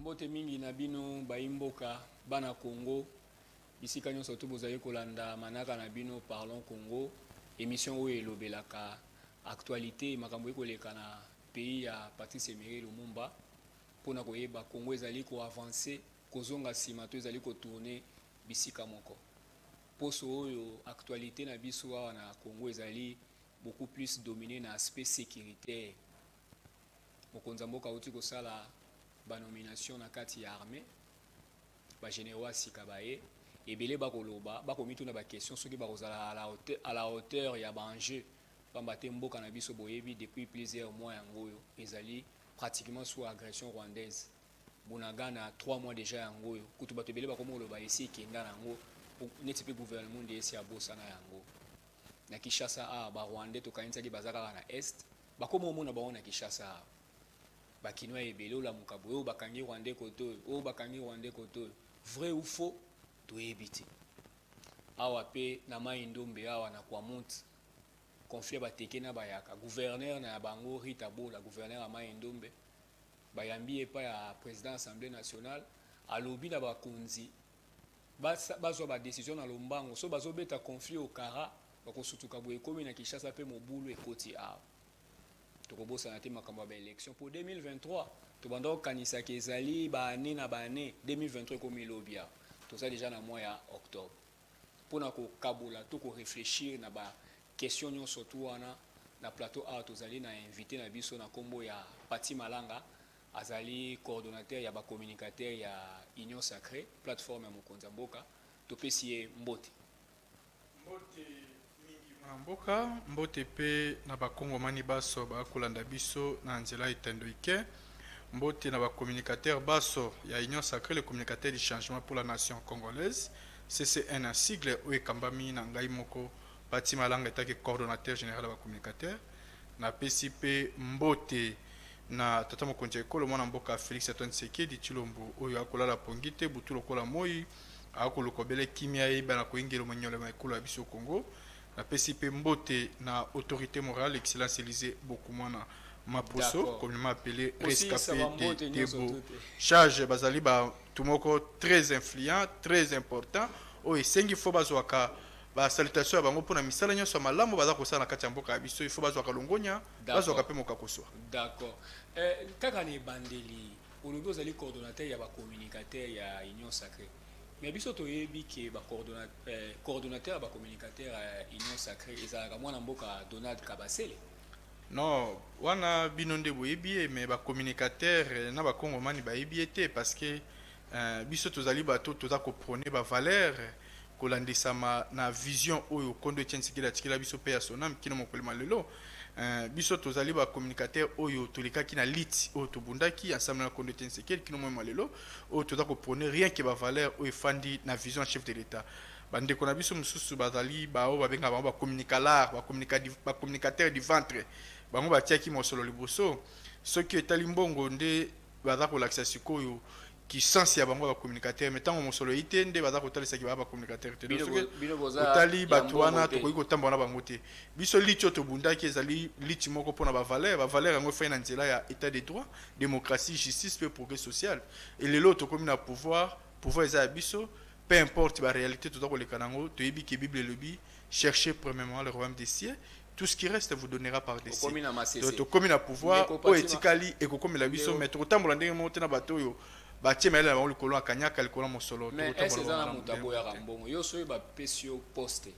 Mbote mingi na bino bayi mboka bana Congo bisika nyonso to bozali kolanda manaka na bino Parlons Congo emission oyo elobelaka actualité makambo ekoleka na pays ya Patrice Emery Lumumba mpona koyeba Congo ezali ko avancer kozonga nsima to ezali kotourner bisika moko poso oyo actualité na biso awa na Congo ezali beaucoup plus domine na aspect securitaire mokonzi ya mboka auti kosala banomination na kati ya armée bagénéraux ya sika baye ebele bakoloba bakomituna baquestion soki bakozala à la hauteur ya baenjeu mpamba te mboka na biso boyebi depuis plusieurs mois yango oyo ezali pratiquement sous agression rwandaise bunagana 3 mois déjà yango oyo kutu bato ebele bakomi koloba esi ekenda na yango neti mpe gouvernement nde esi abosana yango na Kinshasa awa ba rwandais tokanisaki baza kaka na est bakoma omona bango na Kinshasa awa bakinois ya ebele olamuka boye oyo bakangi rwandais kote oyo oyo bakangi rwandais kote oyo vrai ou faux toyebi te awa mpe na mai ndombe awa na kwamut conflit ya bateke na bayaka gouverneur na ya bango rita bola gouverneur ya mai ndombe bayambi epai ya président assemblée nationale alobi na bakonzi Basa bazwa ba decision na lombango soki bazo beta conflit au kara bako sutuka boye ekomi na Kinshasa pe mobulu ekoti awa toko bosana te makambo ya ba election po 2023 tobanda ko kanisa ke ezali ba annee na ba annee 2023 ekomi lobi awa toza dejà na mois ya octobre pona ko kabola to ko reflechir na ba question nionso tout wana na plateau awa tozali na invite na biso na kombo ya Patty Malanga Azali coordonateur ya ba communicateurs ya Union sacree, plateforme ya mokonzi ya mboka. Topesi ye mbote. Mbote mingi mwana mboka, mbote mpe na ba kongomani baso ba kolanda biso na nzela etendo ike. Mbote na ba communicateurs baso ya Union sacree les communicateurs du changement pour la nation congolaise, CCN na sigle oyo ekambami na ngai moko Paty Malanga etake coordonateur general ya ba communicateurs. Napesi mpe mbote. na tata mokonzi ya ekolo mwana mboka Felix Antoine Tshisekedi Tshilombo oyo akolala pongi te butu lokola moi akoluka obele kimia eyeba na koingelo monyole ma ekolo ya biso Congo na pesi pe mbote na autorite morale excellence Elysee Bokumwana Maposo communement appele rescape de Debo charge bazali ba tumoko très influent très important oyo esengi fo bazwaka ba salutation ya bango pona misala nyonso ya malamu baza kosala na kati ya mboka ya biso il faut bazwaka longonya bazwaka mpe mokakoswa. D'accord. Eh, kaka na ebandeli olobi ozali coordonnateur ya ba communicateurs ya Union Sacrée. Mais biso toyebi ke ba eh, coordonnateur ya ba communicateurs ya Union Sacrée ezalaka mwana mboka Donald Kabasele. Non, wana bino nde boyebi ye mais ba communicateurs na ba kongomani bayebi ye te parce que eh, biso tozali bato toza ko prôner ba valeurs kolandisama na vision oyo Nkondo Etienne Tshisekedi atikela biso mpe ya Sonam kino mokolo ma lelo. Biso tozali ba communicateurs oyo tolekaki na lutte oyo tobundaki ensemble na Nkondo Etienne Tshisekedi kino moyen ma lelo oyo toza ko prôner rien que ba valeurs oyo efandi na vision ya chef de l'Etat. Bandeko na biso mosusu bazali baoyo babengaka bango ba communicalards, ba communica, ba communicateurs du ventre, bango batiaki mosolo liboso. Soki etali mbongo nde baza kolakisa sikoyo ki sens ya bango ba communicateur mais tango mosolo eyi te nde baza kotalisa ki ba ba communicateur te otali bato wana tokoki kotambola na bango te biso liti oyo tobundaki ezali liti moko mpona ba valeur ba valeur yango efai na nzela ya état de droit démocratie justice mpe progrès social e lelo oyo tokomi na pouvoir pouvoir eza ya biso peu importe ba réalité toza koleka na yango toyebi ke bible elobi chercher premièrement le royaume des cieux tout ce qui reste vous donnera par dessus okomi na masese donc tokomi na pouvoir oyo etikali ekokomela biso mais tokotambola ndenge moko te na bato oyo batie mayele na bango likolo ya kanyaka likolo ya mosolo mais ese eza na moto aboyaka mbongo yo soki bapesi yo poste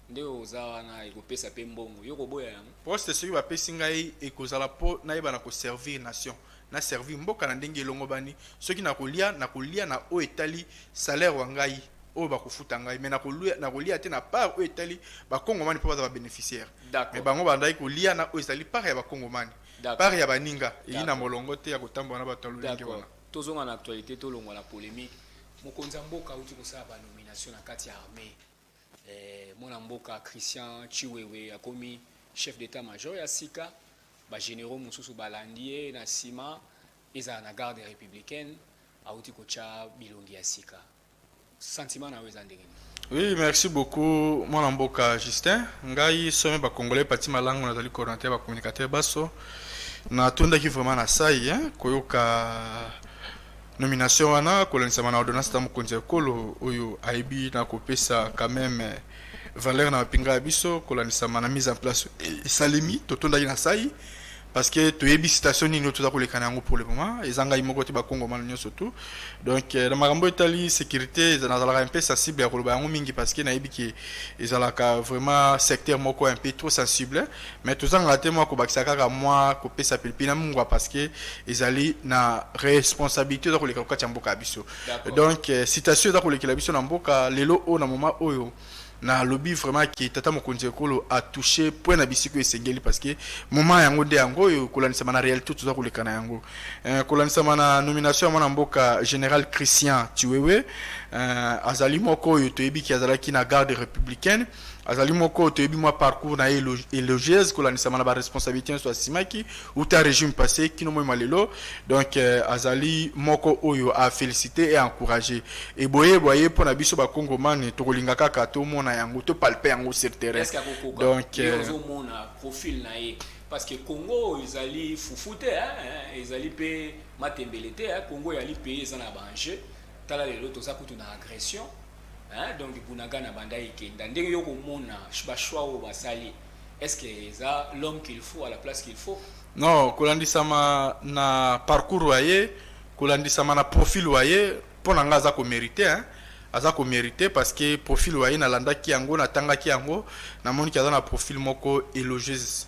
nde oza wana ekopesa mpe mbongo yo koboya yango poste soki bapesi ngai ekozala mpo nayeba na koservir nation na servir mboka na ndenge elongobani, soki na kolia, na kolia na oyo etali salaire wa ngai, oyo ba kofuta ngai, mais na kolia te na part oyo etali ba kongomani po baza ba beneficiaire, mais bango ba ndaki kolia na oyo ezali part ya ba kongomani, part ya baninga eyi na molongo te ya kotambola na batu ya lolenge wana. Tozonga na actualite, tolongwa na polemique, mokonzi ya mboka awuti kosala ba nominations na kati ya armee, Eh, mwana mboka Christian Chiwewe akomi chef d'état major ya sika ba généraux mosusu balandi ye na nsima ezala na garde républicaine auti kotya bilongi ya sika sentiment na yo eza ndenge nini Oui, merci beaucoup mwana mboka Justin. Ngai somi ba congolais pati malango nazali coordinateur ba communicateur baso. Natondaki vraiment na sai hein, koyoka Nomination wana kolandisama na ordonnance na mokonzi ya ekolo oyo ayebi na kopesa quand même valeur na mapinga ya biso kolandisama na mise en place esalemi totondaki na sai parce que toyebi situation nini oyo toza koleka na yango pour le moment eza ngai moko te bakongomana nyonso tout donc euh, na makambo etali sécurité nazalaka un peu sensible ya koloba yango mingi parce que nayebi ke ezalaka vraiment secteur moko un peu trop sensible Mais tozangaka te mua kobakisa kaka mua kopesa pilipili na mungua parce que ezali na responsabilite eza koleka kokati ya mboka ya biso. D'accord. Donc eh, citation eza kolekela biso na mboka lelo oyo na moment oyo na lobi vraiment que tata mokonzi ya ekolo a touche point na bisika oyo esengeli parce que moment yango nde yango oyo kolandisama na réalité toza koleka na yango eh, kolandisama na nomination ya mwana mboka général christian tiwewe eh, azali moko oyo toyebi ki azalaki na garde républicaine Azali moko oyo toyebi mwa parcours na ye elogieuse kolandisama na ba responsabilités nyonso asimaki uta regime passé kino moi mwa lelo donc euh, azali moko oyo a féliciter et encourager et boye boye mpo na biso ba congomane tokolinga kaka tomona yango to palper yango sur terrain Est-ce que akokoka donc ye euh, ozomona profil na ye parce que congo oyo ezali fufu te hein, hein, ezali mpe matembele te hein, congo eyali pays eza na ba enjeu tala lelo toza kutu na agression Hein, donc Bunagana banda ekenda ndenge yo komona ba choix oyo basali est-ce que eza l'homme qu'il faut à la place qu'il faut non kolandisama na parcours wa ye kolandisama na profil wa ye mpo na ngai aza komérite hein? aza komérite parce que profil wa ye nalandaki yango natangaki yango namoniki aza na profil moko élogieuse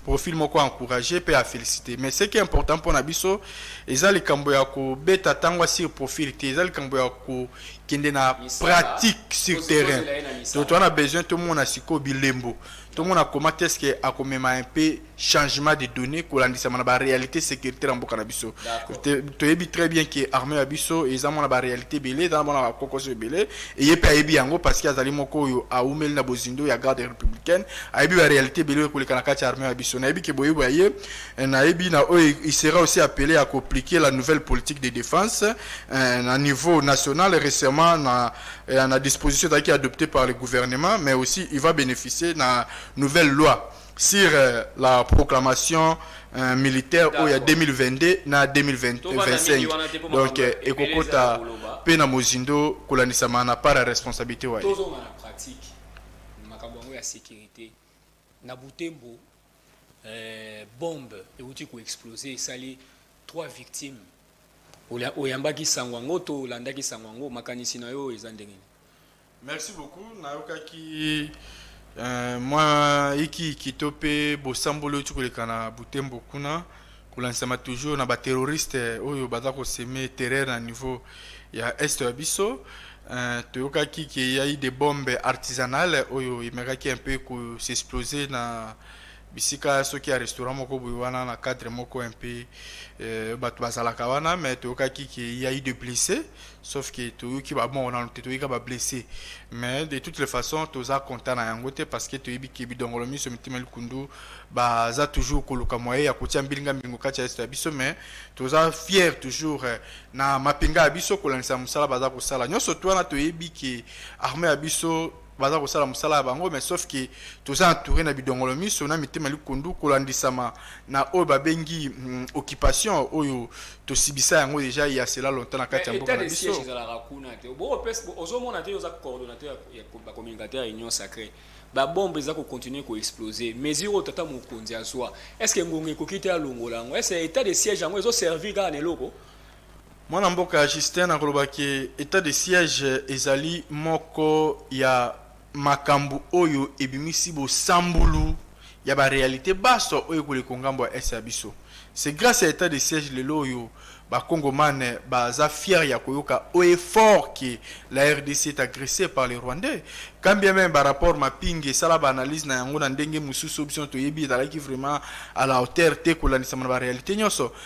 profil moko encourage pe a felicite mais ce qui est important pona biso eza likambo ya kobeta tango sur profil te eza likambo ya kokende na pratique sur terrain to toa na besoin tomona sikoyo bilembo tomona koma te ce que akomema un peu changement de données kolandisama na baréalité sécuritaire ya mboka na biso toyebi très bien ke armée ya biso eza mwana baréalité ebele eza na mwana bakokoso ebele eye mpe ayebi yango parce que azali moko oyo aumeli na bozindo ya garde républicaine ayebi ba realite ebele oyo ekoleka na kati ya armee ya biso nayebi ke boyebi ya ye eh, nayebi na oyo il sera aussi appelé à compliquer la nouvelle politique de défense eh, na niveau national récemment na, eh, na disposition ezalaki adoptée par le gouvernement mais aussi il va bénéficier na nouvelle loi sur euh, la proclamation euh, militaire oyo ya 2022 na 2025 donc euh, ekokota mpe na mozindo kolandisama na part ya responsabilité waye makambo yango ya securite na butembo eh, bombe euti koexplose esali trois victimes oyambaki sango yango to olandaki sango yango makanisi na yo eza ndenge merci beaucoup nayokaki uh, mwa ikiiki to mpe bosamboli euti koleka na butembo kuna Kolansama toujours na ba terroristes oyo baza ko semer terreur na niveau ya est ya biso. Toyokaki qu'il y a eu des bombes artisanales oyo emekaki un peu ko s'exploser na bisika soki ya restaurant moko boye wana na cadre moko un peu batu bazalaka wana mais toyokaki qu'il y a eu des blesses. sauf que toyoki babongo nano te toyoki ba blessé mais de toutes les façons toza content na yango te parce que toyebi ke bidongolo miso mitima likundu baza toujours koluka moyen ya kotia mbilinga mbilingo kati ya esto ya biso mais toza fier toujours eh, na mapinga ya biso kolandisa mosala baza kosala nyonso to wana toyebi ke armée ya biso baza kosala mosala ya bango mais sauf que toza entouré na bidongolo miso na mitema likundu kolandisama na oyo babengi mm, occupation oyo tosibisa yango deja ya cela longtemps na kati ya mboka na biso ezalaka kuna te ozomona te oza coordonnateur ya bacommunicateur ya union sacré babombe eza kocontinue koexplose mesure oyo tata mokonzi azwa est ce que ngonga ekoki te alongola yango est ce état de siège yango ezoservir kaka na eloko Mwana mboka Justin na koloba que etat de siège ezali moko ya makambu oyo ebimisi bosambulu ya ba realites banso oyo ekoleko ngambo ya Est ya biso. C'est grace ya etat de siège lelo oyo ba Kongoman baza fiers ya koyoka haut et fort que la rdc est agressee par les Rwandais. Quand bien meme ba rapports Mapinge sala ba analyses na yango na ndenge mususu oyo biso nionso toyebi ezalaki vraiment à la hauteur te kolandisama na ba realites nionso.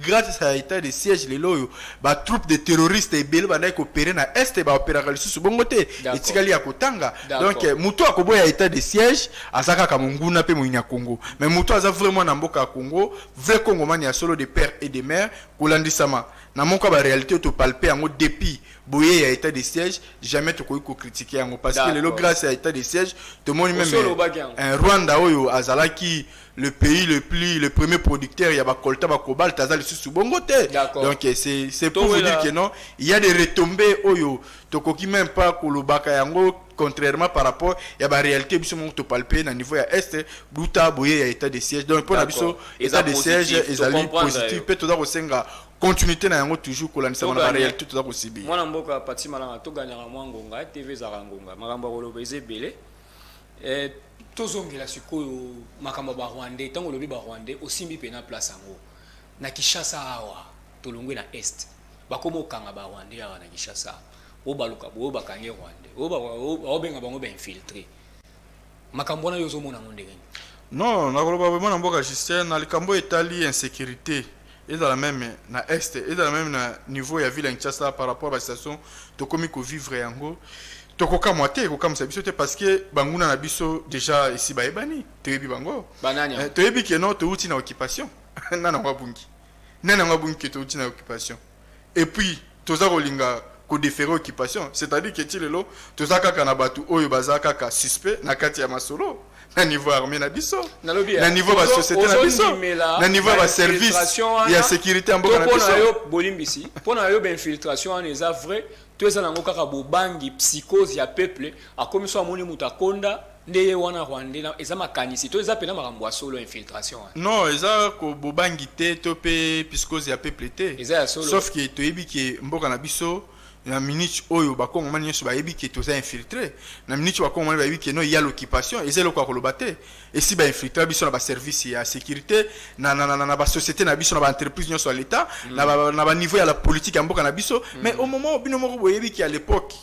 Grace à etat de siège lelo oyo ba troupes de terroristes ebele bandaki ko opérer na est et ba opéraka lisusu bongo te etikali ya kotanga donc mutu akoboya etat de siège aza kaka monguna pe moyinya Congo mais mutu aza vrai mwana mboka ya Congo vrai congomani ya solo de père et de mère kolandisama na moko ya ba realite oyo to palpe yango depuis boye ya etat de siège jamais tokoki ko critiquer yango parce que lelo grace ya etat de siège tomoni meme Rwanda oyo azalaki le pays le plus le premier producteur ya ba colta ba cobalt aza lisusu bongo te donc c'est c'est pour vous dire que non il y a des retombées oyo tokoki même pas kolobaka yango contrairement par rapport ya ba réalité biso moko topalpe na niveau ya est duta boye ya état de siège donc mpo na biso état de siège ezali positif mpe toza kosenga continuité na yango toujours kolandisama na baréalité toza kosibi mwana mboka pati malanga toganyaka mwa ngonga tv ezalaka ngonga makambo ya koloba eza ebele Eh, tozongela sikoyo makambo ya barwandais ntango olobi barwandais osimbi mpena place yango na kinshasa awa tolongwe na est bakoma okanga barwandais awa na kinshasa oyo baluka boyo bakangi rwandais oyo baobenga bango bainfiltre makambo wana yo ozomona yango ndenge nini non nakoloba vraimen na mboka justin na likambo etali insécurité ezala meme na est ezala meme na niveau ya ville ya Kinshasa par rapport ba situation tokomi ko vivre yango tokokamwa te ekokamwisa biso te parce que banguna na biso déjà esi bayebani toyebi bango Banani yango? Eh, toyebi keno touti na occupation nani yango abungi nani yango abungi ke touti na occupation Et puis toza kolinga ko deferer occupation c'est à dire que ti lelo toza kaka na batu oyo baza kaka suspect na kati ya masolo na niveau ya armee na biso Nalobi, na eh, niveau ya ba ozo- societe na biso ozondimela na niveau ya ba ba service infiltration wana, ya securite ya mboka to na mpo na biso yo bolimbisi mpo na yo bainfiltration wana eza vrai to eza nango kaka bobangi psychose ya peuple akomi so amoni moto akonda Nde ye wana rwandais na eza makanisi to eza pena makambo ya solo infiltration wana. Non eza ko bobangi te to pe piscose ya peuple te. Eza ya solo. Sauf que toyebi que mboka na biso na minute oyo ba kongomani nionso bayebi que toza infiltre na minute ba kongomani bayebi que non ya l'occupation eza eloko ya koloba te esi ba infiltra biso na ba service ya securite na na na na ba societe na biso na ba entreprise nionso ya l'etat na ba na ba niveau ya la politique ya mboka na biso mais au moment bino moko boyebi que à l'epoque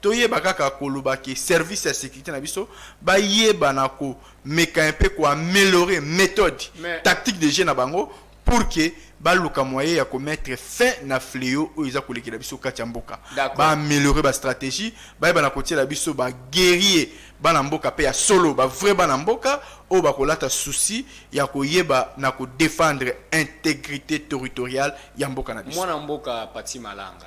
Toyeba kaka koloba ke service ya securite na biso bayeba na ko meka un peu ko ameliorer methode Mais- tactique de jeu na bango pour que baluka moyen ya ko mettre fin na fleo oyo eza kolekela biso kati ya mboka. D'accord. Ba ameliorer ba strategie, bayeba na kotiela biso ba guerrier bana mboka pe ya solo, ba vrai bana mboka oyo bakolata souci ya koyeba na ko defendre integrite territoriale ya mboka na biso. Mwana mboka Paty Malanga.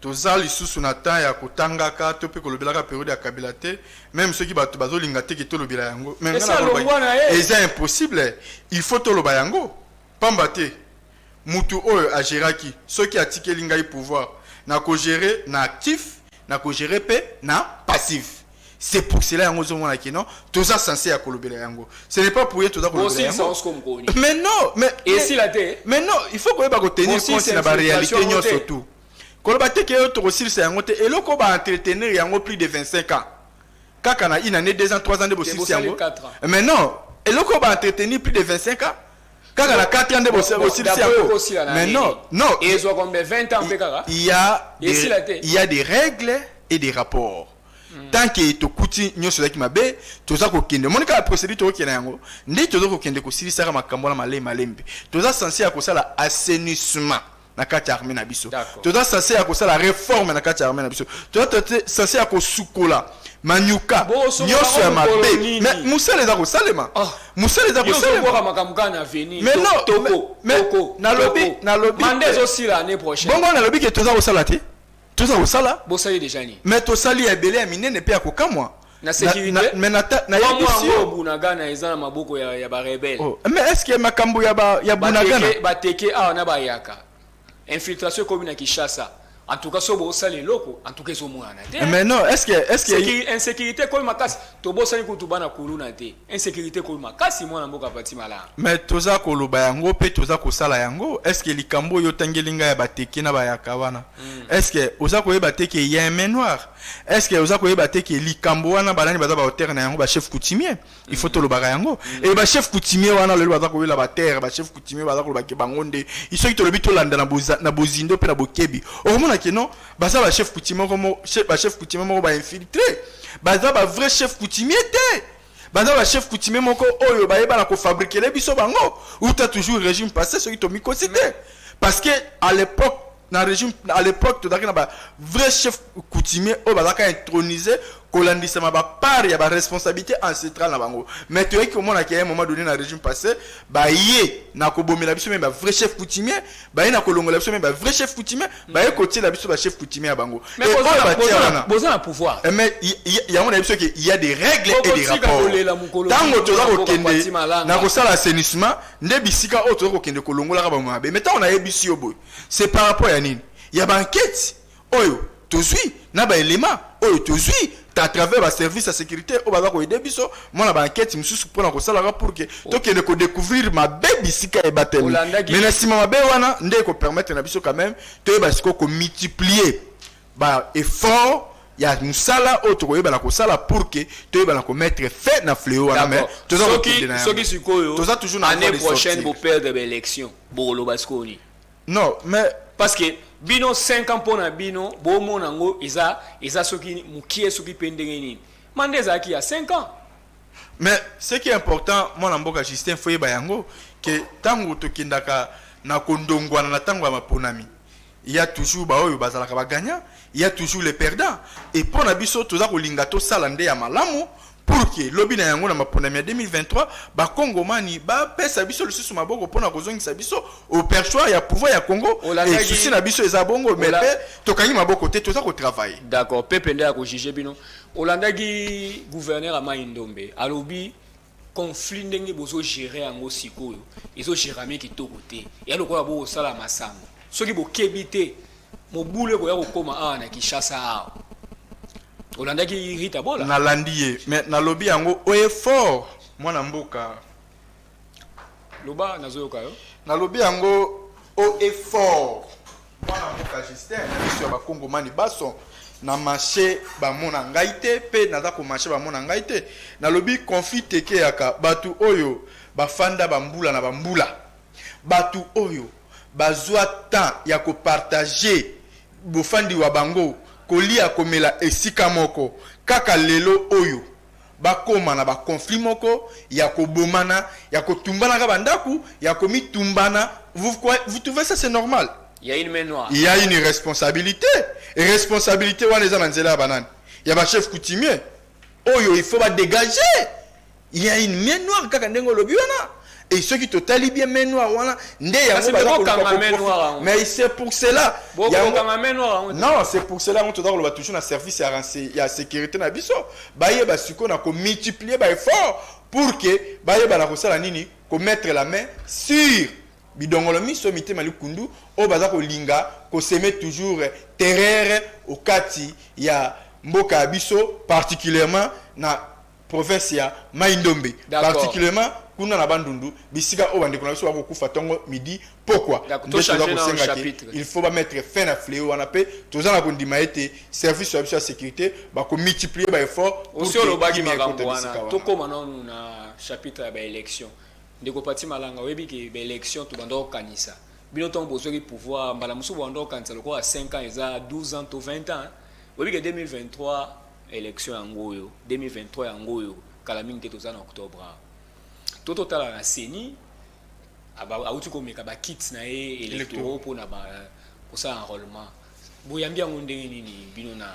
Toza lisusu na temps ya ko tangaka to pe ko lobelaka periode ya kabila te meme soki batu bazo linga te ke to lobela yango mais nga na loba eza impossible il faut to loba yango pamba te mutu oyo a geraki soki a tikeli ngai pouvoir na ko gerer na actif na ko gerer pe na passif. C'est pour cela yango ozo mona que non toza sense ya kolobela yango. Ce n'est pas pour rien toza kolobela yango. Bosilisa osko mkoni. Mais non, mais esila te. Mais non, il faut koyeba ko tenir compte na ba réalité nyonso tout. Koloba te que yo tokosilisa yango te. Eloko ba entretenir yango plus de 25 ans. Kaka na une année, deux ans, trois ans de bosilisa yango. Mais non, eloko ba entretenir plus de 25 ans kaka na 4 ans nde bosilisi yango mais non non il y a des règles et des rapports tant que tokuti nyonso ezalaki mabe toza kokende omoni kaka procédure tokokende yango nde toza kokende kosilisaka makambo wana malembe malembe toza sense ya kosala assainissement na kati ya armée na biso D'accord. toza sense ya kosala reforme na kati ya armée na biso toza toza sense ya kosukola manyuka Bosokola nyonso ya yango mokolo mabe nini? mais mosala eza kosalema Ah. mosala eza Yo ozokoka kosalema makambo kaka na avenir. Mais To- non, toko, mais- mais toko, nalobi- toko. nalobi- Mandat ezosila année prochaine. bongo nalobi ke toza kosala te toza kosala bosali deja nini mais tosali ya ebele ya minene pe ya kokamwa na sécurité mais na na ya yango bunagana eza na maboko ya ya ba rebelle oh. mais est-ce que makambo ya ba ya bunagana ba teke awa na ba yaka infiltration ekomi na Kinshasa en tout cas sobo osala eloko en tout cas ezomonana te mais non est-ce que est-ce que insécurité ekomi makasi tobosani kutu bana kuluna te Insecurite ekomi makasi mwana mboka Pati Malaa. Mais toza koloba yango pe toza kosala yango est ce que likambo oyo otangeli ngai ya bateke na bayaka wana est ce que oza koyeba te ke ya un main noire est ce que oza koyeba te ke likambo wana banani baza ba auteur na yango ba chef coutumier il faut tolobaka yango et ba chef coutumier wana lelo baza koyela ba terre ba chef coutumier baza koloba ke bango nde il soki tolobi tolanda na boza na bozindo pe na bokebi okomona ke non Baza ba chef coutumier moko mo chef ba chef coutumier moko ba infiltré. Baza ba vrai chef coutumier te. Baza ba chef coutumier moko oyo ba yeba na ko fabriquer les biso bango. Ou t'as toujours régime passé soki to mikosi te. Parce que à l'époque na régime à l'époque tozalaki na ba vrai chef coutumier oyo bazalaka intronisé kolandisama ba part ya ba responsabilité ancestrale na bango mais toyeki komona ke ya moment donné na régime passé baye na kobomela biso meme ba vrai chef coutumier baye na kolongola biso me ba vrai chef coutumier mm. baye kotiela biso ba chef coutumier ya bango boza na pouvoir eh, mais yango na biso ke il y a des règles et des rapports ntango toza kokende na kosala assainissement nde bisika oyo toza kokende kolongolaka bango mabe mais ntango nayebisi yo boye c'est par rapport ya nini ya banketi oyo tozui na ba elements oyo tozui à travers ba services ya securite oyo baza koyede biso mwa na ba enquete mosusu mpo na kosalaka pour que tokende kodécouvrir mabe bisika ebateli Olandaki- mais na nsima mabe wana nde ekopermettre na biso quand même toyeba sikoyo komultiplier ba effort ya mosala oyo tokoyebana kosala pour que toyebana komettre fin na fleo wana mais D'accord. toza soki kokende na yango. soki sikoyo Toza toujours na année voie de prochaine sortir. boperdre baélection bokoloba sikoyo nini Non, mais parce que bino 5 ans pona bino bo mona ngo eza eza soki mukie soki pe ndenge nini. Manda ezalaki ya 5 ans. Mais ce qui est important mwana mboka Justin Foyeba yango que tango tokendaka na kondongwana na tango ya maponami il y a toujours ba oyo bazalaka ba gagnant il y a toujours les perdants et pona biso toza kolinga tosala nde ya malamu pour que lobi na yango na maponami ya 2023 bakongomani bapesa biso lisusu maboko mpo na kozongisa biso au perchoir ya pouvoir ya congo Olandaki- esusi na biso eza bongo me Ola- mpe tokangi maboko te toza kotravaille d'accord pepe nde akojuge bino olandaki gouverneur ya mai ndombe alobi conflit ndenge bozogere yango sikoyo ezogerame kitoko te ya lokola bokosala masango soki bokebi te mobulu ekoya kokoma awa na kinshasa awa olandaki rita bola nalandi ye mais nalobi yango oye fort mwana mboka loba nazoyoka yo nalobi yango o effort mwana mboka justin na miso ya bakongomani baso na marché bamona ngai te mpe naza komarche bamona ngai te nalobi conflit tekeyaka bato oyo bafanda bambula na bambula bato oyo bazwa temps ya kopartage bofandi wa bango, kolia, komela esika moko, kaka lelo oyo bakoma na ba conflits moko ya kobomana, ya kotumbanaka ba ndaku, ya komitumbana, vous croyez, vous trouvez ça c'est normal? Ya une main noire. Il ya une irresponsabilite, responsabilite wana eza na nzela ya ba nani? Ya ba chefs coutumiers oyo il faut ba degager. Il y a une main noire kaka ndenge olobi wana et soki totali bien main noire wana nde yango baza koluka mais c'est pour cela non c'est pour cela yango toza koloba toujours na service ya, ya sécurité na biso bayeba sikoyo na komultiplier baeffort pour que bayeba na kosala nini komettre la main sur bidongolo miso mitema likundu oyo baza kolinga koseme toujours terreur okati ya mboka ya biso particulièrement na province ya Mai-Ndombe, particulièrement kuna na Bandundu, bisika oyo bandeko na biso bakokufa tongo midi pokwa, nde toza kosenga ke il faut ba mettre fin na fleo wana mpe toza na kondima ete service na biso ya securite ba ko multiplier ba efforts pour que kimya ekota bisika wana. Tokoma nanu na chapitre ya ba elections, ndeko Paty Malanga, oyebi ke ba elections tobanda kokanisa bino tongo bozwaki pouvoir, mbala mosusu bobanda kokanisa lokola 5 ans eza 12 ans to 20 ans, oyebi ke 2023 Election yango oyo 2023 yango oyo kala mingi te toza na octobre awa. To totala na CENI awuti komeka ba kits na ye electoraux mpo na ba kosala enrôlement. Boyambi yango ndenge nini bino na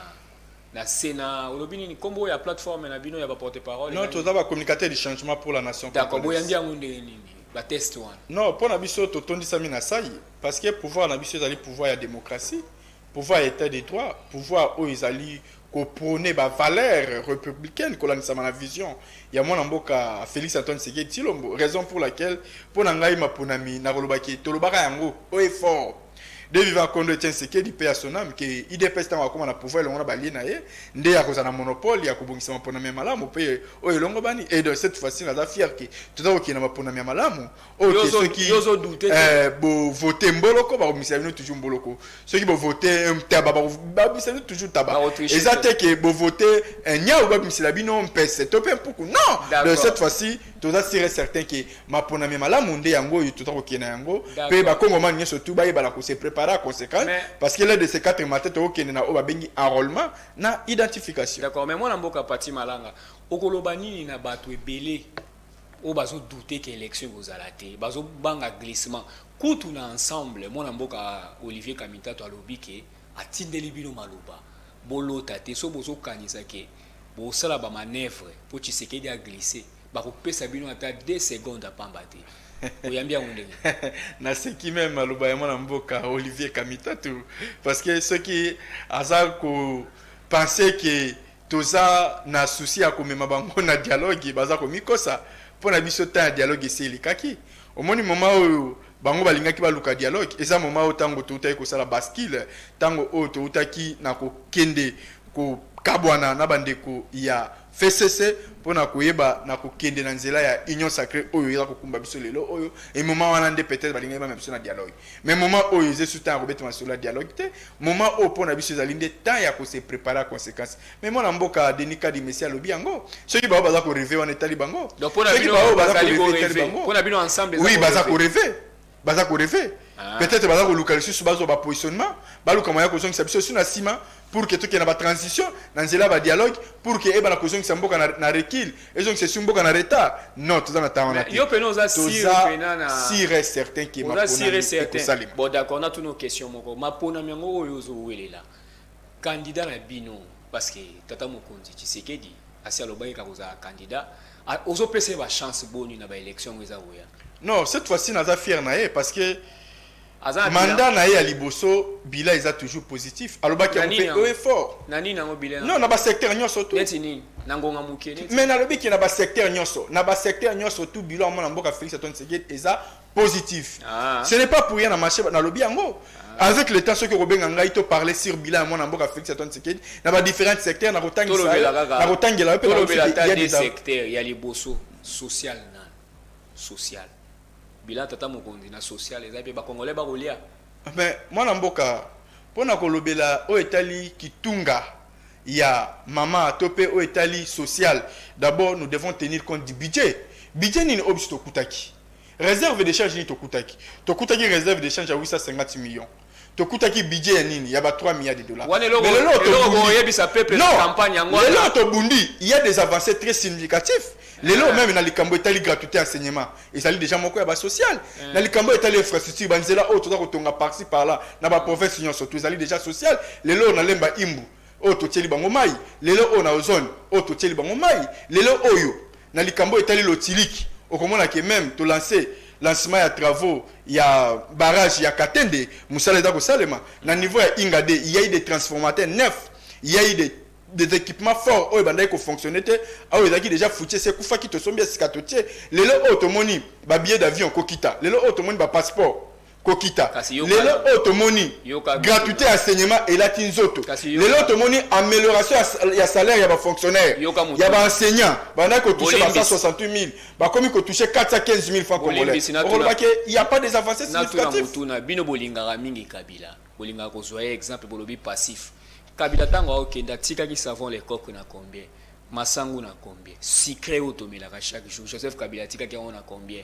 na Sena olobi nini kombo ya plateforme na bino ya ba porte parole? Non, toza ba communicateurs du changement pour la nation. D'accord, boyambi yango ndenge nini? bateste wana non mpo na biso totondisami na sai parce que pouvoir na biso ezali pouvoir ya démocratie Pouvoir ya etat de droit, pouvoir oyo ezali ko proner ba valeurs republicaines kolandisama na vision ya mwana mboka Felix Antoine Tshisekedi Tshilombo, raison pour laquelle mpo na ngai maponami nakoloba que tolobaka yango haut et fort de vivant Kondo Etienne Tshisekedi paix à son ame que udps tango akoma na pouvoir elongo na b'allies na ye nde akozala na monopole ya kobongisa maponami ya malamu mpe oyo elongobani et de cette fois-ci naza fier que toza kokende na maponami ya malamu oyo Yo te ozo- soki yo ozo doute te. eh, bovote mboloko bakomisa bino toujours mboloko soki bovote eh, ntaba bako- babimisa bino toujours ntaba Bako tricher eza te. te ke bovote eh, nyau babimisela bino mpese to mpe mpuku non de D'accord. cette fois-ci toza sire et certain ke maponami ya malamu nde yango oyo toza kokende na yango mpe D'accord. bakongomani nyonso tu bayebana kose prépare à conséquence Mais- parce que l'un de ces quatre matin tokokende na oyo babengi enrôlement na identification d'accord mais mwana mboka pati malanga okoloba nini na bato ebele oyo bazo doute que election ekozala te bazo banga glissement kutu na ensemble mwana mboka Olivier Kamitatu alobi que atindeli bino maloba bolota te soki bozo kanisa que bosala ba manevre po Tshisekedi a glisse bakopesa bino ata deux secondes ya pamba te oyambi yango ndenge na seki meme maloba ya mwana mboka Olivier Kamitatu parce que soki aza ko penser que Toza na souci ya komema bango na dialogue baza komikosa po na biso temps ya dialogue esi elekaki omoni moment oyo bango balingaki baluka dialogue eza moment oyo tango toutaki kosala bascule tango oyo toutaki na kokende kokabwana na bandeko ya FCC po na koyeba na kokende na nzela ya union sacree oyo eza kokumba biso lelo oyo et moment wana nde peut-etre balingaki bamema biso na dialogue. Mais moment oyo eza esu temps ya kobeta masolo ya dialogue te. Moment oyo mpo na biso ezali nde temps ya ko se preparer à consequence. Mais mwana mboka Denis Kadimesi alobi yango. Soki baoyo baza ko rever wana etali bango. Donc mpo na bino bazali ko rever. Mpo na bino ensemble eza ko rever. Oui baza ko rever. Baza ko rever. Ah. Peut-être baza koluka lisusu bazwa ba positionnement. Baluka moyen ya kozongisa biso esu na sima. pour que tokende na ba transition na nzela ya ba dialogue pour que ebana kozongisa mboka na, na recul ezongisa esu mboka na retard non toza na temps wana te yo pena oza sire pena na sire et certain que ma sire et certain bon d'accord na tuno question moko ma pona miango oyo ozo welela candidat na bino parce que tata mokonzi Tshisekedi asi alobaki kakozala candidat ah, ozo pesa ba chance boni na ba élection eza oya non cette fois-ci naza fier na ye parce que Mandat na ye ya liboso bilan eza toujours positif alobaki yango pe haut et fort na nini yango bilan non na ba secteur nionso tout neti nini na ngonga muke neti mais nalobi ke na ba secteur nionso na ba secteur nionso tout bilan mona mboka Felix Antoine Tshisekedi eza positif ah. ce n'est pas pour rien na marché nalobi yango ah. avec le temps soki okobenga ngai to parler sur bilan ya mwana mboka Felix Antoine Tshisekedi na ba différents secteurs na kotangisa na kotangela yo pe na secteur ya liboso social na social Bilan tata mokonzi na social eza pe ba congolais ba kolia. Mais mwana mboka pona kolobela oyo etali kitunga ya mama to pe oyo etali social d'abord nous devons tenir compte du budget. Budget nini oyo biso tokutaki? Reserve de change nini tokutaki? Tokutaki reserve de change ya 850 millions. tokutaki budget ya nini ya ba 3 milliards de dollars mais lelo lelo tobundi il y a des avancées très significatifs lelo ah. meme na likambo etali gratuité enseignement ezali déjà moko ya ba social ah. na likambo etali infrastructure banzela oyo toza kotonga parci par là na ba province nyonso to ezali déjà social lelo na lemba imbu oyo totieli bango mai lelo oyo na ozone oyo totieli bango mai lelo oyo Na likambo oyo etali lotiliki, okomona que meme to lancer lancement ya travaux ya barrage ya Katende, mosala eza kosalema. Na niveau ya Ingade, il y a eu des transformateurs neufs, il y a eu des des equipements forts oyo ebandaki ko fonctionner te, oyo ezalaki dejà foutue esi ekufaki, tosombi ya sika totie. Lelo oyo tomoni ba billets d'avions kokita, lelo oyo tomoni ba passeports kokita lelo oyo tomoni gratuité ya saignement elati nzoto lelo tomoni amélioration ya salaire ya bafonctionnaire ya baenseignant bandaki kotouche ba 168 000 bakomi kotouche 415 000 franc congolais okoloba ke il y a pas des avancées significatives bino bolingaka mingi kabila bolingaka kozwa ye exemple bolobi passif kabila ntango aokende atikaki savon le coq na combien masangu na combien sucre oyo tomelaka chaque jour joseph kabila atikaki yango na combien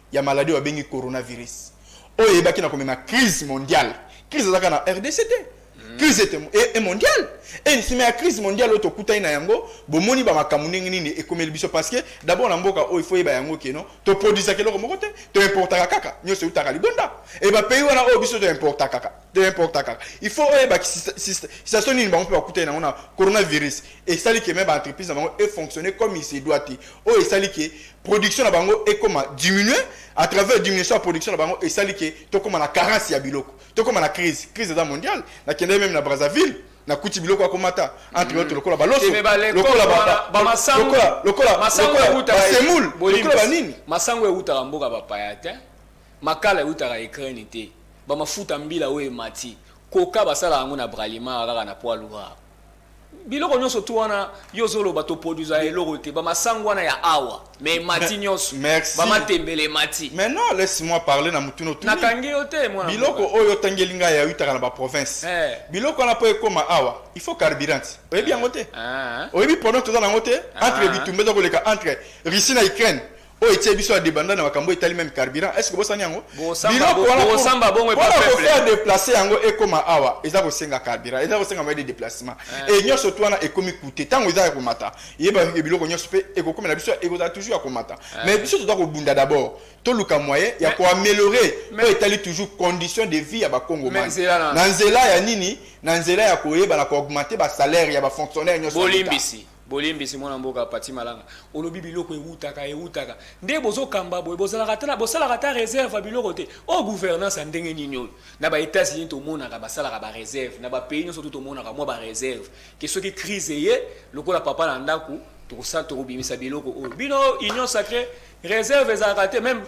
ya maladie oyo babengi coronavirus oyo eyebaki na komema crise mondiale crise ezalaka na rdc te crise ete e, e mondiale e nsima ya crise mondiale oyo tokutani na yango bomoni bamakambo ndenge nini ekomeli biso parce que d'abord na mboka oyo ifo yeba yango keno toproduisaka eloko moko te toimportaka kaka nyonso eutaka libonda e bapays wana oyo biso toimporta kaka toimporta kaka ifo oyebaki situation nini bango mpe bakutani na yango na coronavirus esali ke me baentreprise na bango efonctionne comme il se doit te oyo esali ke production na bango ekoma diminue à travers diminution ya production na bango esali ke tokoma na carence ya biloko tokoma na crise crise eza mondiale nakendaki meme na brazzaville nakuti biloko ya komata entre autres lokola baloso Ebe ba leko- lokola ba- ba- ba masangu- lokola- lokola- masangu lokola ewutaka- basemoule Bolimbisi. lokola banini masango ewutaka mboka bapaya te makala ewutaka ukraine te bamafuta mbila oyo emati koka basalaka yango na bralima kaka na poids lourd Biloko nionso tout wana yo ozo loba to produisa eloko te ba masangu wana ya awa mais emati nionso ba matembele emati mais non laisse moi parler na mutuna otuni na kangi yo te mwana biloko oyo otangeli ngai ya utaka na ba province eh. biloko wana po ekoma awa il faut carburant oyebi yango te ah. oyebi problème toza nango te ah. entre bitumba eza koleka entre Russie na Ukraine oyo etie biso ya debanda na makambo etali meme carburant est ce que bosani yango biloko wana mpona kofaire deplace yango ekoma awa eza kosenga carburant eza kosenga moye de déplacement eh. e nyonso tu wana ekomi coûte ntango eza ya komata yeba biloko nyonso mpe ekokomela biso ekozala toujours ya komata eh. mais biso toza kobunda d'abord toluka moyen ya koaméliorer oyo etali toujours condition de vie ya bakongomani na nzela ya nini na nzela ya koyeba na koaugmente basalaire ya bafonctionnaire nyonso bolimbisi Bolimbisi mwana mboka Paty Malanga olobi biloko ewutaka ewutaka nde bozo kamba boye bozalaka ata na bosalaka ata reserve ya biloko te oyo gouvernance ya ndenge nini oyo na ba etats unis tomonaka basalaka ba reserve na ba pays nionso tout tomonaka mwa ba reserve ke soki crise eye lokola papa na ndaku tokosala tokobimisa biloko oyo bino union sacree reserve ezalaka te meme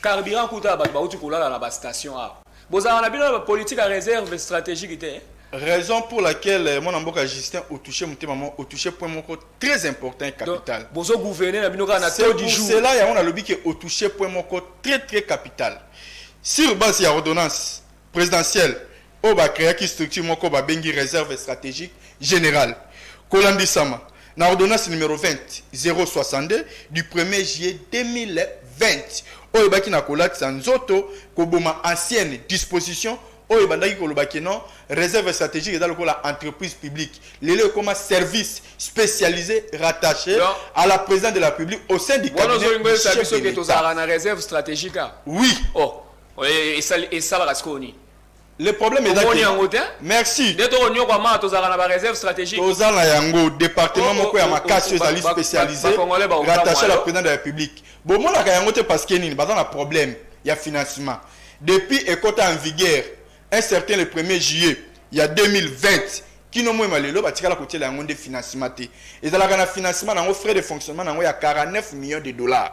carburant kuta ya bato bawuti kolala na ba station awa Bozalaka na bino na ba politique ya reserve strategique te hein? Raison pour laquelle mwana mboka Justin o touche motema mo o touche point moko très important et capital. Donc bozo gouverner na bino kaka na taux du jour. C'est pour cela yango nalobi que o touche point moko très très capital. Sur base ya ordonnance présidentielle oyo ba creaki structure moko babengi reserve strategique generale kolandisama na ordonnance numero 20 062 du 1er juillet 2020 oyo ebaki na kolatisa nzoto koboma ancienne disposition oyo ebandaki koloba ke non réserve stratégique eza lokola entreprise publique lelo ekoma service spécialisé rattaché Donc, à la présidente de la république au sein du wana cabinet ozolinga du oyebisa chef biso de ke l'État. tozalaka na réserve stratégique awa oui o esali- esalaka sikoyo nini Le problème est Omoni yango te? Merci. Nde toko nyokwa ma tozalaka na ba réserve stratégique. Toza na yango département oh, moko ya oh, oh, makasi ezali spécialisé rattaché à la présidente de la République. Bomonaka yango te parce que nini baza na problème ya financement. Depuis ekota en vigueur un certain le 1er juillet ya 2020 kino moyema lelo batikala kotiela yango nde financement te ezalaka na financement na yango frais de fonctionnement na yango ya 49 millions de dollars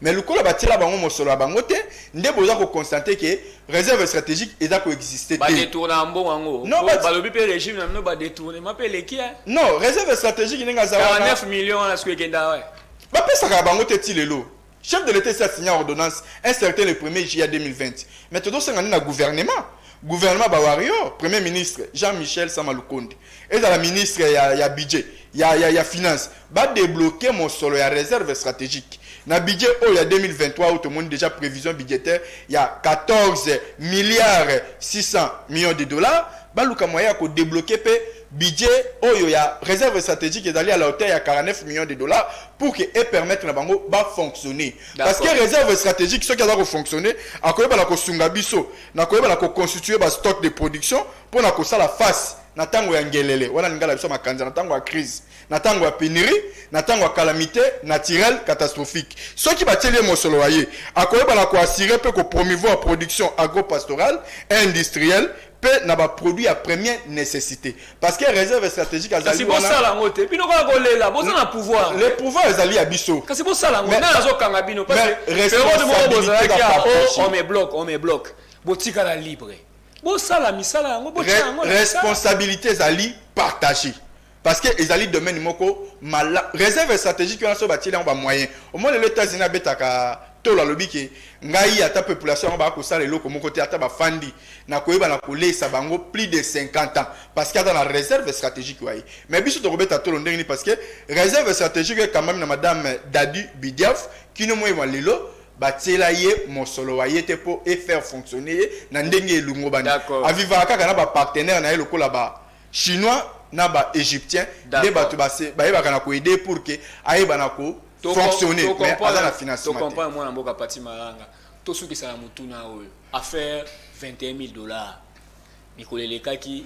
Mais lokola ba tiela bango mosolo ya bango te nde boza ko constante ke reserve strategique eza ko existe te. Ba detourna mbongo yango. Non ba balobi pe regime na bino ba detournement pe leki hein. Non reserve strategique ndenge aza wana. 49 millions wana siko ekenda ouais. Ba pesaka bango te ti lelo. Chef de l'État a signé ordonnance un certain le 1er juillet 2020. Mais tozo senga nde na gouvernement. Gouvernement ba warrior, premier ministre Jean-Michel Samalukonde. ezala ministre ya, ya budget ya, ya, ya finance ba débloquer mosolo ya réserve stratégique na budget oyo ya 2023 oyo tomoni déjà prévision budgétaire ya 14 milliards 600 millions de dollars baluka moyen ya ko débloquer pe budget oyo ya réserve stratégique ezali à la hauteur ya 49 millions de dollars pour que e permettre na bango ba fonctionner parce que réserve stratégique soki aza ko fonctionner akoyeba na kosunga biso na koyeba na ko constituer ba stock de production pona kosala face na tango ya ngelele wana lingala biso makanza na tango ya crise na tango ya penurie na tango ya calamite naturelle catastrophique soki batieli ye mosolo ya ye akoyeba na koassure mpe kopromouvoir production agropastorale et industrielle mpe na baproduit ya première nécessité parce que réserve stratégique kasi azali wana bosala yango te bino kaka kolela boza na pouvoir le pouvoir ezali ya biso kasi bosala yango Mais- nani azokanga bino mais periode moko responsabilité bozalaki ya ya o- baproche. on me bloque on me bloque botikala libre Bosala misala yango, botia yango na misala. Responsabilite ezali partager. Parce que ezali domaine moko mala reserve strategique wana so batieli yango ba moyen omoni lelo Etats-Unis abetaka tolo alobi ke ngai ata population yango bakosala eloko moko te ata bafandi na koyeba na koleisa bango plus de 50 ans parce que aza na reserve strategique waye mais biso tokobeta tolo ndenge nini parce que reserve strategique ekamami na madame Dadu Bidiaf kino moye mwa lelo batiela ye mosolo wa ye te po e faire fonctionner ye na ndenge elungobani. D'accord. A vivaka kaka na ba partenaires na ye lokola ba chinois na ba egyptiens nde D'accord. batu ba se bayebaka na ko aider ye pour que ayeba na ko To com- fonctionner to mais aza comprendre- na to financement te. comprendre mwana mboka Paty Malanga. Tosukisa na motuna oyo. Affaire 21000 dollars. Mikolo elekaki,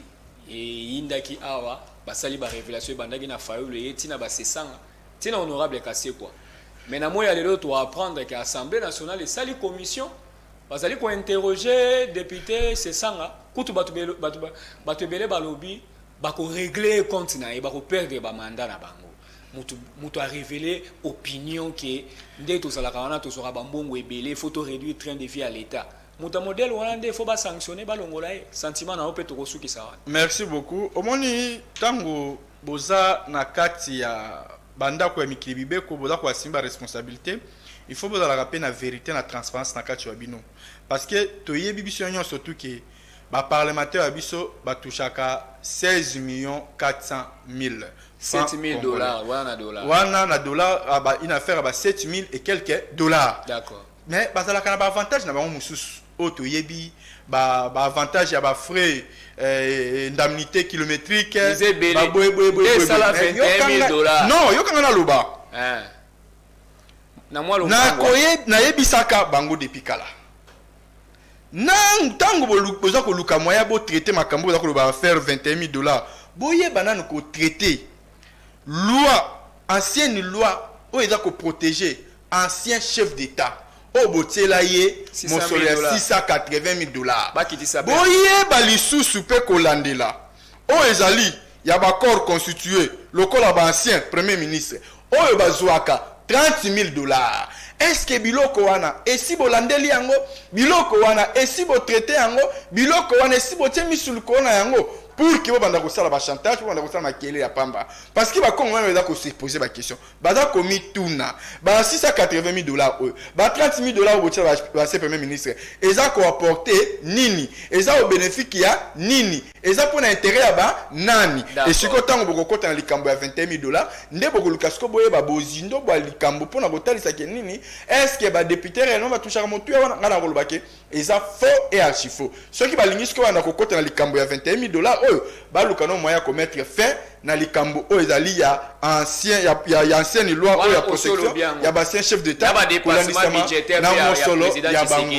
eyindaki awa, basali ba revelations ebandaki na Fayulu eye ti na ba Sessanga. ti na honorable Kasekwa mais na moya lelo to apprendre que Assemblée nationale esali commission bazali ko interroger député Sesanga kutu batu batu batu ebele balobi bako régler compte na ye bako perdre ba mandat na bango mutu mutu a révéler opinion que nde tozalaka wana tozwaka ba mbongo ebele faut to réduire train de vie à l'état moto ya modele wana nde fo basanctionne balongola ye sentiment na yo mpe tokosukisa wana merci beaucoup omoni ntango Boza na kati ya ba ndaku ya mikili bibeko boza ko assumer ba responsabilite il faut bozalaka pe na verite na transparence na kati wa bino parce que toyebi biso nionso tout que ba parlementaires wa biso ba touchaka 16 millions 400 milles francs congolais wana na dollars ba une affaire ya ba 7000 et quelques dollars. Mais bazalaka na ba avantage na bango mususu oyo toyebi ba ba avantage ya ba frais euh, indemnité kilométrique Eza ebele. ba boye boye boye Nde esala boye. Mais 21 000 yokanga- dollars. non yokanga na loba Eh. na mwa lombango wana. nakoye nayebisaka bango depuis kala na ntango bolu- boza koluka moyen botraite makambo oyo boza koloba affaire 21 000 dollars boyeba nanu kotraite Loi, ancienne loi oyo eza ko proteger ancien chef d'etat oyo botiela ye mosolo ya 680.000 dollars. Boyeba lisusu mpe kolandela oyo ezali ya ba corps constitues lokola ba anciens premiers ministres oyo bazuaka 30.000 dollars. Est ce que biloko wana esi bolandeli yango? Biloko wana esi bo traiter yango? Biloko wana esi botie misu likolo na yango? pour que bobanda kosala ba chantage bobanda kosala makele ya pamba parce que bakongo wana baza kose poser ba question baza komituna ba 680 000 dollars oyo ba 30 000 dollars oyo botyela base premier ministre eza koapporte nini eza au bénéfique ya nini eza mpo na intérêt ya ba nani esiko ntango bokokota na likambo ya 21 000 dollars nde bokoluka siko boyeba bozindo bwa likambo mpo na kotalisa ke nini est ce que badepute réellement batouchaka motuya wana ngai nakolobake Eza faux et archifaux. Soki balingi sikoyo banda kokota na likambo ya 21000 dollars oyo, baluka no moyen ya ko mettre fin na likambo oyo ezali ya ancien ya, ya, ya ancienne loi oyo ya protection ya basien chef d'etat kolandisama na mosolo ya bango.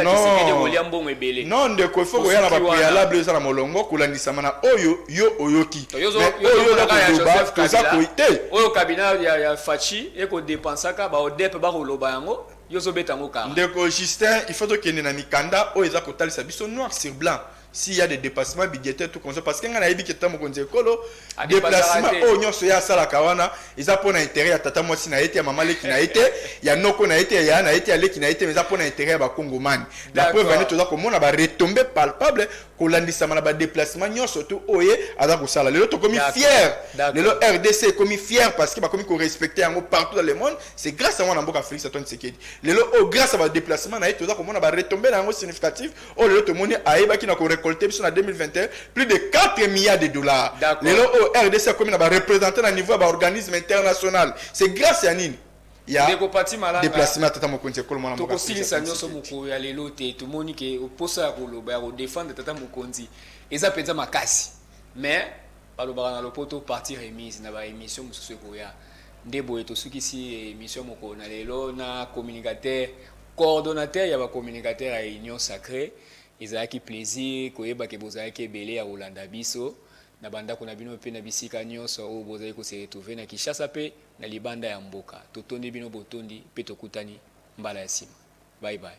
Non, non ndeko, il faut koya na ba préalable eza na molongo kolandisama na oyo yo oyoki. Mais oyo na koloba toza koyi te. Oyo cabinet ya, ya Fachi eko depensaka ba ODEP bakoloba yango. Yo ozo beta ngo kara. Ndeko Justin, il faut tokende na mikanda oyo eza kotalisa biso noir sur blanc s'il y a des depassements budgétaires tout comme ça parce que ngai nayebi ke tata mokonzi ya ekolo Adepassaka deplacement te. oyo nyonso ye asalaka wana eza mpo na interet ya tata mwasi na ye te ya mama leki na ye te ya noko na ye te ya yaya na ye te ya leki na ye te mais eza mpo na interet ya bakongomani la D'accord. preuve ane toza komona ba retombées palpables kolandisama na ba deplacement nyonso tu oye aza kosala lelo tokomi fier lelo rdc ekomi fier parce que bakomi korespecte yango partout dans le monde c'est grâce à mwana mboka félix antoine tshisekedi lelo oyo oh, grâce à ba déplacement na ye toza komona ba retombé na yango significative oyo oh, lelo tomoni ayebaki na korecolte biso na 2021 plus de 4 milliards de dollars lelo oyo oh, rdc akomi na ba représentant na niveau ya ba organisme international c'est grâce ya nini ya Ndeko Pati Malanga, deplacement ya tata mokonzi ya ekolo mwana mboka Felix tokosilisa Antoine nyonso Tshisekedi. mokolo ya lelo te tomoni ke mposa ya koloba ya kodefendre tata mokonzi eza mpenza makasi mais balobaka na lopoto partie remise na ba emission mosusu ekoya nde boye tosukisi emission ya mokolo na lelo na communicateur coordonnateur ya ba communicateur ya union sacree ezalaki plaisir koyeba ke bozalaki ebele ya kolanda biso na bandako na bino mpe na bisika nyonso oyo bozali kose retrouver na kinshasa mpe na libanda ya mboka totondi bino botondi pe tokutani mbala ya sima bye bye.